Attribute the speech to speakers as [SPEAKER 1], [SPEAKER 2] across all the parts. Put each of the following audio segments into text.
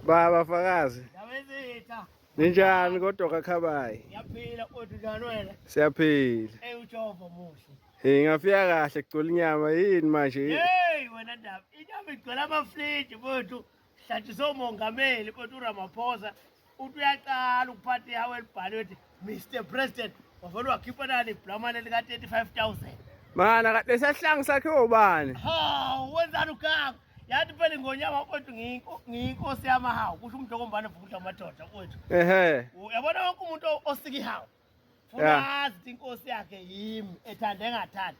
[SPEAKER 1] Baba Fakazi. Yabezitha.
[SPEAKER 2] Ninjani
[SPEAKER 1] kodwa kakhabayi? Ngiyaphila kodwa
[SPEAKER 2] njani wena? Siyaphila. Hey
[SPEAKER 1] uJehova
[SPEAKER 2] muhle. Hey ngafika kahle
[SPEAKER 1] kugcwele inyama yini manje? Hey wena ndaba.
[SPEAKER 2] Inyama igcwele amafliji mfowethu. Hlatshisa umongameli mfowethu uRamaphosa. Uthi uyaqala ukuphatha ihawu elibhaliwe ukuthi Mr President wavele wakhipha nani iblamane lika 35000 Mana
[SPEAKER 1] lesahlangu sakhe ubani Ha wenzani
[SPEAKER 2] ukaka yathi phela ingonyama wakwethu ngiyinkosi yamahawu kusho umuntu okombane vukudla amadoda kwethu ehe uyabona
[SPEAKER 1] wonke umuntu
[SPEAKER 2] osika ihawu funa azi ukuthi inkosi yakhe yimi ethanda engathandi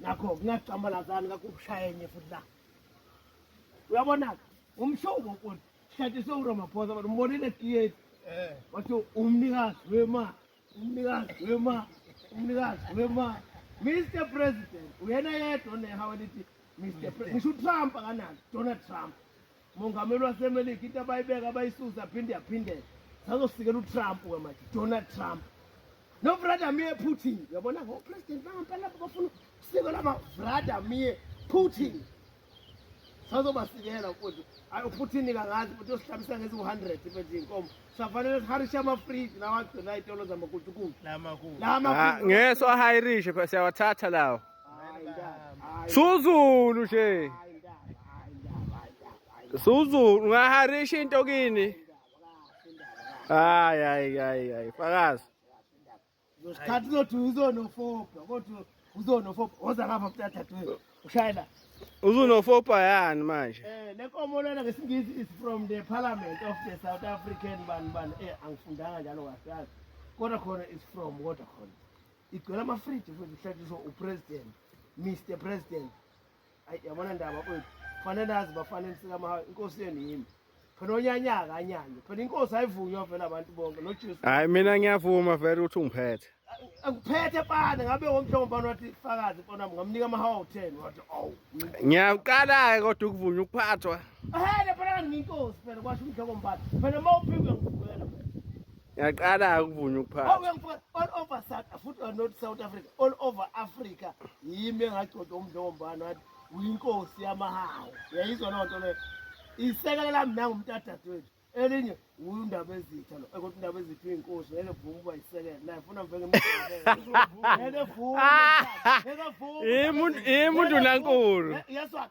[SPEAKER 2] nakho kungacambalazani ngakho ukushayenye futhi la uyabona-ke umshubo mfuni sihlathi sewuromaphosa but umbonile etiyeni eh. wathi umnikazi wemali umnikazi wemali umnikazi wemali mr president uyena yedwa onehawa lithi mr president ngisho utrump akanalo donald trump Mongameli waseMelika into abayibeka abayisusa phinde yaphindela. Sazosikela uTrump ke manje, Donald Trump. No Vladimir Putin. Uyabona ngo president bangampela bafuna usiko lama Vladimir Putin. Sazobasikela mfowethu. Ayi uPutin kangazi ukuthi usihlabisa ngezi 100 mfethu inkomo. Safanele siharishe ama free lawa gcina itolo zamakutukutu. Lama ku. Lama. Ah, ngeso
[SPEAKER 1] ahirishe siyawathatha lawo. Suzulu nje. Suzulu ungaharisha into kini. Hayi hayi hayi hayi fakazi.
[SPEAKER 2] Usikhathi uzothi uzonofopa kodwa uzonofopa oza ngapha mntathathu ushayela. Uzunofopa
[SPEAKER 1] yani manje? Eh lenkomo lena
[SPEAKER 2] ngesingisi is from the parliament of the South African bani bani eh angifundanga njalo kahle. Kodwa khona is from kodwa khona. igcwela amafriji futhi kuhlatshiswa upresident mr president ayi yabona ndaba kwethu kufanele nazi bafanele sikamahawu inkosi yenu yimi phela onyanyaka anyanye phela inkosi ayivunywa vele abantu bonke nojesu hayi mina ngiyavuma
[SPEAKER 1] vele ukuthi ungiphethe angiphethe
[SPEAKER 2] pane ngabe womhlobo mbani wathi fakazi mpona ngamnika amahawu awu-ten wathi ow ngiyawuqala-ke
[SPEAKER 1] kodwa ukuvunywa ukuphathwa ehele phela kanti
[SPEAKER 2] ngiyinkosi phela kwasho umhlobo mbani phela uma uphikwe ngivukela Ngiyaqala
[SPEAKER 1] ukuvuna ukuphatha. Awu ngifuna all over
[SPEAKER 2] South futhi or not South Africa, all over Africa yimi engagcoda umdlombana wathi uyinkosi yamahawu. Yayizwa loo nto leyo. Isekela lami nangu umntadadwethu. Elinye undaba ezitha lo ukuthi indaba ezitha uyinkosi ngeke vuma uba isekela naye funa mveke ngeke vuma ngeke vuma imuntu imuntu nankulu
[SPEAKER 1] yeswa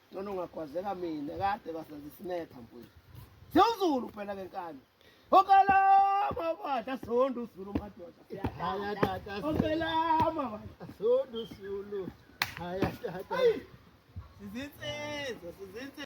[SPEAKER 2] Ncono ungagwazeka mina kade kwasenza isinetha mfowethu. Sewuzulu phela ke nkani. Okalama badla sonto uzulu madoda. Haya tata. Okalama badla sonto uzulu. Haya tata. Sizinsizwa, sizinsizwa.